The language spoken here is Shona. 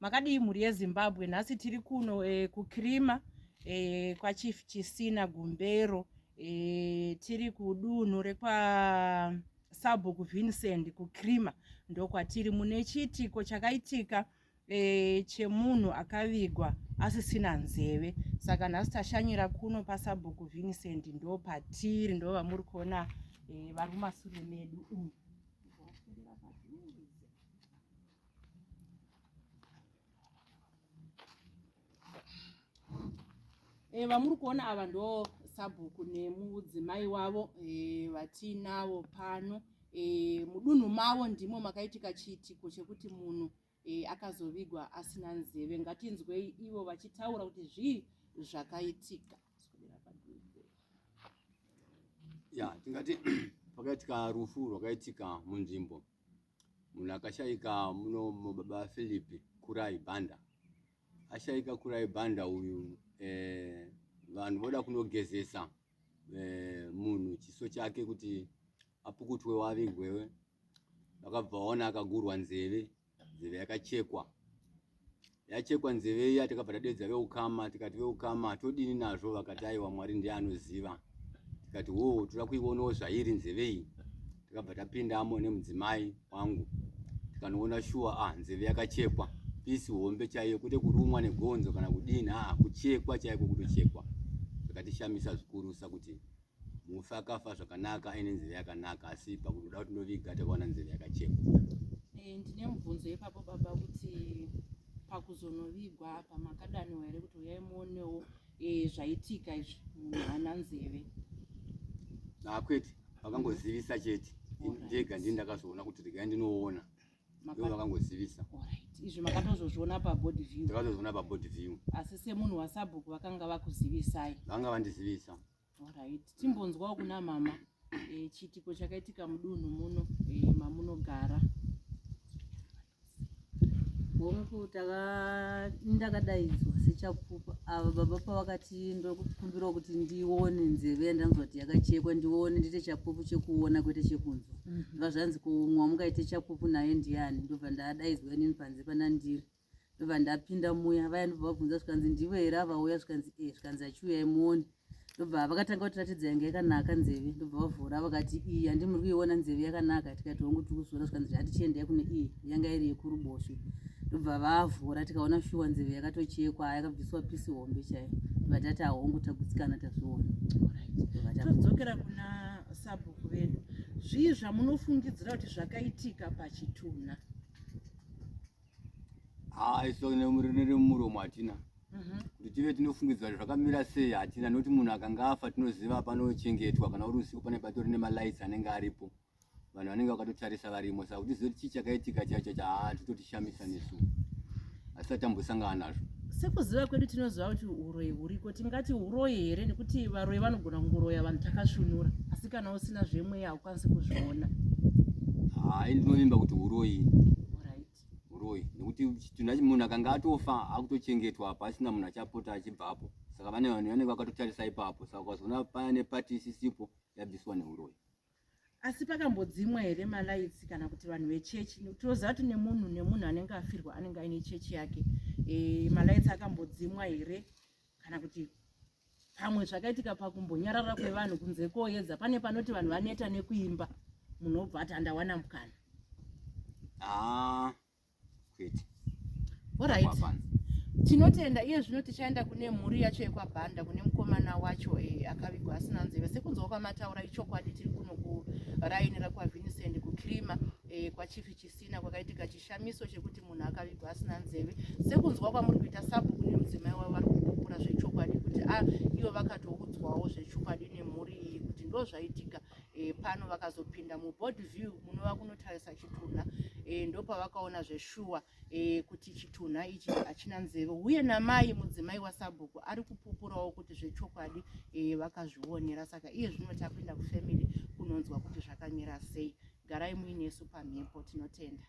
makadii mhuri yezimbabwe nhasi tiri kuno e, kukrima e, eh, kwachief chisina gumbero e, tiri kudunhu rekwa sabhuku vincent kukrima ndokwatiri mune chiitiko chakaitika e, chemunhu akavigwa asisina nzeve saka nhasi tashanyira kuno pasabhuku vincent ndopatiri ndovamuri kuona e, vari mumasure medu umu Eh, vamuri kuona ava ndo sabhuku nemudzimai wavo eh, vatiinavo pano eh, mudunhu mavo ndimo makaitika chiitiko chekuti munhu e, akazovigwa asina nzeve ngatinzwei ivo vachitaura kuti zvii zvakaitika ya tingati pakaitika rufu rwakaitika munzvimbo munhu akashaika muno mubaba philip kurai banda ashaika kurai banda uyu eh, vanhu voda kunogezesa eh, munhu chiso chake kuti apukutwe wavigwewe vakabva vaona akagurwa nzeve nzeve yakachekwa yachekwa nzeve iya takabva tadedza veukama tikati veukama todini nazvo vakati aiwa mwari ndiye anoziva tikati wo toda kuionawo zvairi nzeve iyi takabva tapindamo nemudzimai wangu tikanoona shuwa a ah, nzeve yakachekwa pisi hombe chaiyo kwete kurumwa negonzo kana kudini aa ah, kuchekwa chaiko kutochekwa zvakatishamisa zvikurusa kuti mufi akafa zvakanaka aine nzeve yakanaka asi pakutoda kuti ndoviga takaona nzeve yakachekwa eh, ndine mubvunzo yepapo baba kuti pakuzonovigwa apa makadaniwa here kuti uyai muonewo eh, zvaitika izvi munhu haana nzeve akwete ah, vakangozivisa chete ndega ndii ndakazoona kuti regai ndinoona ivo vakangozivisa izvi makatozozviona pabody view takatozviona pabody view asi semunhu wasabhuku vakanga vakuzivisai vanga vandizivisa Alright, timbonzwawo kuna mama e, chiitiko chakaitika mudunhu muno e, mamunogara. Hongu, ndakadaidzwa sechapupu ava baba pavakati ndokumbirawo kuti ndione nzeve yandanzwa kuti yakachekwa ndione ndiite chapupu chekuona kwete chekunzwa mm -hmm. vazvanzi kumwa mungaite chapupu naye ndiyani ndobva ndadaidzwa inini panze panandiri ndobva ndapinda muya vaya ndobva vabvunza zvikanzi ndivo here avauya zvikanzi e zvikanzi achiuyai muone ndobva vakatanga kutiratidza yanga yakanaka nzeve ndobva vavhura vakati iyi handi muri kuiona nzeve yakanaka tikati hongu tiri kuzviona zvikanzi zvati chiendai kune iyi yanga iri yekuruboshwe ndobva vavhura tikaona shuwa nzeve yakatochekwa yakabviswa pisi hombe chaiyo ndobva tati ahongu tagutsikana tazviona todzokera kuna sabhuku vedu zvii zvamunofungidzira kuti zvakaitika pachitunha haa ah, iso nemuromo hatina mhm. kuti tive tinofungidzwa zvakamira sei hatina nokuti munhu akanga afa tinoziva panochengetwa kana uri usiku pane patori nemalights anenge aripo vanhu vanenge vakatotarisa varimo saka kuti zoti chii chakaitika chacho chaa titotishamisa nesu asi tatambosangana nazvo sekuziva kwedu tinoziva kuti uroyi huriko tingati uroyi here nekuti varoyi vanogona kungoroya vanhu takasvunura asi kana usina zvemweya asi kuzviona hayi ndinovimba kuti uroyi uroyi nekuti tinhu munhu akanga atofa akutochengetwa apa asina munhu achapota achibvapo saka vane vanhu vanenge vakatotarisa ipapo saka ukazoona paya nepati isisipo yabviswa neuroyi asi pakambodzimwa here malaitsi kana kuti vanhu vechechi tinoziva kuti nemunhu nemunhu anenge afirwa anenge aine chechi yake e, malaitsi akambodzimwa here kana kuti pamwe zvakaitika pakumbonyarara kwevanhu kunze koyedza pane panoti vanhu vaneta nekuimba munhu obva ati andawana mukana ah, orit tinotenda iye zvino tichaenda kune mhuri yacho yekwabhanda kune mukomana wacho e, akavigwa asina nzeve sekunzwa kwamataura ichokwadi tiri kuno kuraini rakwavincent kucrima e, eh, kwachifi chisina kwakaitika Chishamiso chekuti munhu akavigwa asina nzeve sekunzwa kwamuri kuita sabhuku nemudzimai wavo vari kupupura zvechokwadi kuti a ah, ivo vakatoudzwawo zvechokwadi nemhuri iyi kuti ndo zvaitika e, pano vakazopinda muboard view munova kunotarisa chitunha e, eh, ndopavakaona zveshuwa e, kuti chitunha ichi hachina nzeve uye namai mudzimai wasabhuku ari kupupurawo kuti zvechokwadi e, vakazvionera saka iye zvino tapinda kufamily kunonzwa kuti zvakamira sei garai muinesu pamhepo tinotenda